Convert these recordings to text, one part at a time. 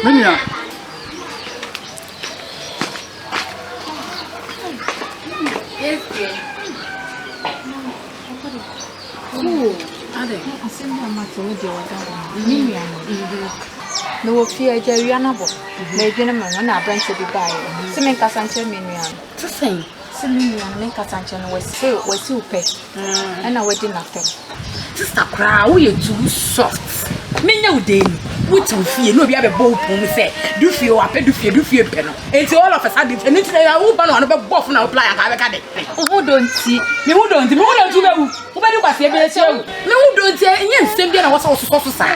Me nua. na wɔfie agya awia no abɔ madwene me ho na aberɛnkyɛ bi baeɛ sɛ menkasa nkyerɛ me nua no sɛ me nua no menkasa nkyerɛ no wɔse watiw pɛ ɛna wadi n'atɛm. Sista koraa woyɛ too soft. Menya wo dee ni. Wote wo fie na obi abɛbɔ wo pon mu sɛ du fie o apɛ du fie du fie pɛ no. Enti all of a sudden ɛno nti na wo ba no ano bɛbɔ fo na wo plan aka bɛka de. Wo ho dɔ nti. Me ho dɔ nti. Me ho dɔ nti wobɛwu. Wobɛdi kwasea bi akyia wu. Me ho dɔ nti ɛnyɛ nsɛm bi na wɔ sɛ wososɔ so saa.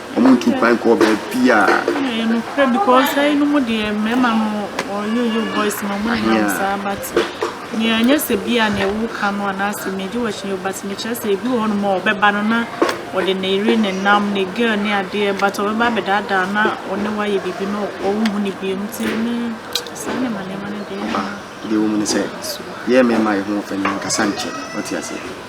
ɔmo ntu kwan kɔ baabiaa. Ɛyɛ nokorɛ because ha yinom deɛ mmarima no wɔyɛ yo boys ma ɔmo nenam saa but nea ɛnyɛ sɛ bi a nea woka no anaasɛ megye wɔhyɛ yo but mekyerɛ sɛ ebi wɔ hɔ nom a ɔbɛba no na ɔde ne yere ne nam ne girl ne adeɛ but ɔbɛba abɛdaadaa na ɔne wayɛ biribi na ɔnhu ne bio no ti ne saa ne ma nneɛma no deɛ. Deɛ wɔ mu ne sɛ yɛ mmarima yɛ ho ɔfɛ no nkasa nkyɛ ɔte aseɛ.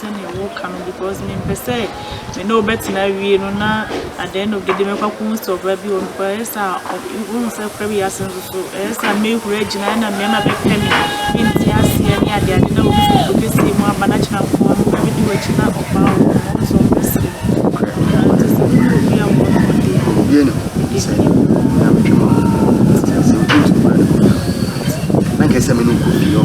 sɛnea woka no because mempɛ sɛ me ne wo bɛtena awie no na at the end of the day mɛkɔ akɔhu sɛ ɔbaa bi wɔ hɔ because ɛyɛ sɛ a ɔ- wohu sɛ kora bi ase nso so ɛyɛ sɛ a mɛhuri agyina ɛna mmarima bɛpɛ me mente aseɛ ne adeade na obi fi kuro kɛseɛ mu aba na kyerɛ nko a meba bɛdi w'akyi na ɔbaa wɔ hɔ ma wo sɛ ɔmpɛ sɛ Nokorɛ. Ah, nti sɛ wone obi a mmɔ mmɔden a Owie ne ho ɛdi sɛ ne mu na metwe ma wo. Sɛ sɛ wotu ntu kura ne ho a, na nka ɛsɛ sɛ me ne wo kɔ fie hɔ.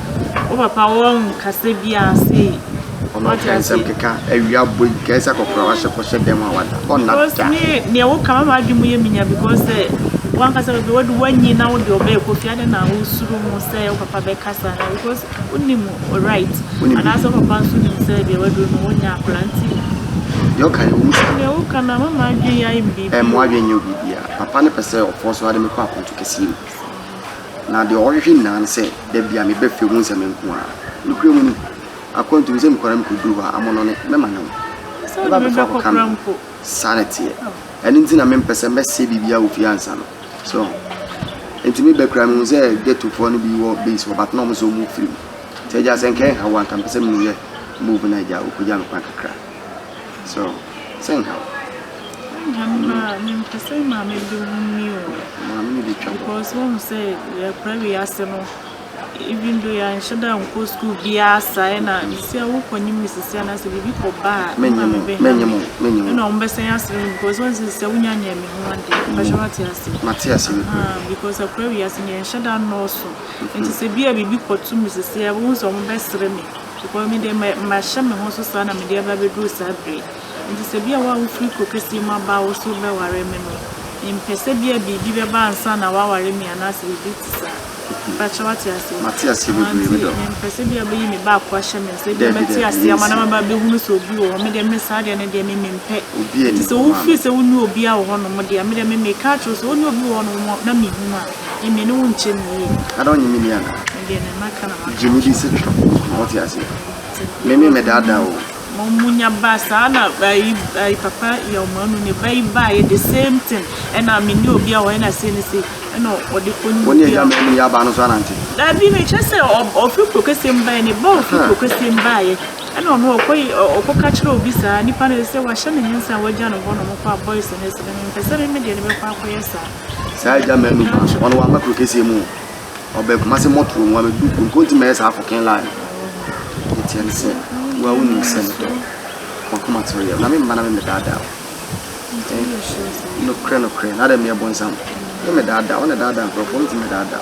Wo papa wɔnhu kasa biaa sei. Ɔno ɔka nsɛm keka awia bɔ yi kɛɛ sɛ kɔkora wahyɛ kɔhyɛ dɛm a wada ɔnna da. Neɛ wo ka mama adwe mu yɛ minya because sɛ wankasa bɛbɛ wode wanyi na wode ɔbɛ ɛkɔ fia de na wo suru mu sɛ wo papa bɛ kasa na because wonim right anaasɛ wo papa nso nim sɛ deɛ waduro no wonya akora nti deɛ ɔka yɛ ɔmu sɛ deɛ woka na mama adwe yɛ ayɛ biribi ɛmo adwe nyɛ biribi a papa ne pɛ sɛ ɔfɔ so ade mekɔ akonto kɛseɛ mu na deɛ ɔhwehwɛ nyinaa ne sɛ da biara me bɛ fɛ mu nsɛm nko ara. Nokorɛ mu no, akwantu no sɛ me kɔra me kɔ duru hɔ a, amono ne mɛma ne ho. Mɛ ba bɛfa kɔ ka me ho. Saa ne teɛ. Ɛno nti na me mpɛ sɛ mɛ sɛ biribiara wɔ fie ansa no. So, nti me bɛ kura me hu sɛ ghetto foɔ no bi wɔ base hɔ, but na ɔmo sɛ ɔmo firi mu. Nti agya sɛ nkɛ nhaw a, nka mpɛ sɛ me yɛ move na agya ɔkɔgya me kwan kakra. So sɛ nka wo. Nka me ma mempɛ sɛ maame bi ho ni o. Maame no de twa. Because wɔn sɛ yɛkora wiase no even though yɛanhyɛ da nkɔ sukuu biara saa ɛna sɛ wokɔ ne mu sisi anaasɛ biribi kɔ ba a ɛma me bɛha me ɛna wɔn bɛsɛn asere mu because wɔn sɛ sɛ wonya nyɛ me ho ade mpakyɛ wate ase mate ase because akora wiase no yɛnhyɛ da nnɔɔso nti sɛ bi a biribi kɔto mu sisi a wɔn sɛ wɔn bɛsere me Because me deɛ mahyɛ me ho so saa na mede aba abɛduru saa berɛ yi. Enti sɛ bia wo a wofiri kuro kɛseɛ mu aba a wo so wobɛware me no, mempɛ sɛ bia biribi bɛba ansa na woaware me anaasɛ biribi te saa. Mepakyɛ wate aseɛ? Mate aseɛ bebree, medɔ. Nti mempɛ sɛ bia wobɛyi me ba ako ahyɛ me nsa, bia mɛte aseɛ ama na maba abɛhunu sɛ obi wɔ hɔ. Me deɛ me saa deɛ no deɛ me mempɛ. Nti sɛ wofiri sɛ wonni obiara wɔ hɔnom deɛ a, me deɛ me meka akyerɛ wo sɛ wone obi wɔ hɔnom na mehunu a, Emi no wo nkyɛ me yie. Ada ɔnye me ni ana? Me deɛ ne maka na maka. Gye me di se twerɛ. Ɔte aseɛ. Me me mɛdaadaa o. Mo mo nya ba saa na ayi ayi papa Yawmanu ne ba yi baa yɛ the same thing. Ɛna me ne obi a hɔ ɛna sei ne sei. Ɛna ɔde kɔ ne. Wɔn yɛ gya mɛ ne yɛ aba no so anante. Dabi me kyɛ sɛ ɔfiri kuro kɛseɛ mu baeɛ ne ba ɔfiri kuro kɛseɛ mu baeɛ ɛna ɔno ɔkɔ ɔkɔ ka kyerɛ obi saa nipa no sɛ wahyɛ ne nsa a wagya no hɔ nom kɔ a boys ne sɛ me mpɛ sɛ me me deɛ ne bɛkɔ akɔyɛ saa. Saa agya mmaa no ba wɔn wɔn aba kuro kɛseɛ mu ɔbɛn kuma se mɔtoro mu abɛdu kuro nkonti mɛyɛ saa kɔkɛn laa no yɛteɛ no sɛ woa wonim sɛ no dɔ wakoma toro yɛ na me mma na me medaadaa nokorɛ nokorɛ na adɛ meɛ bonsam me medaadaa wɔn na daadaa nkurɔfoɔ me ti medaadaa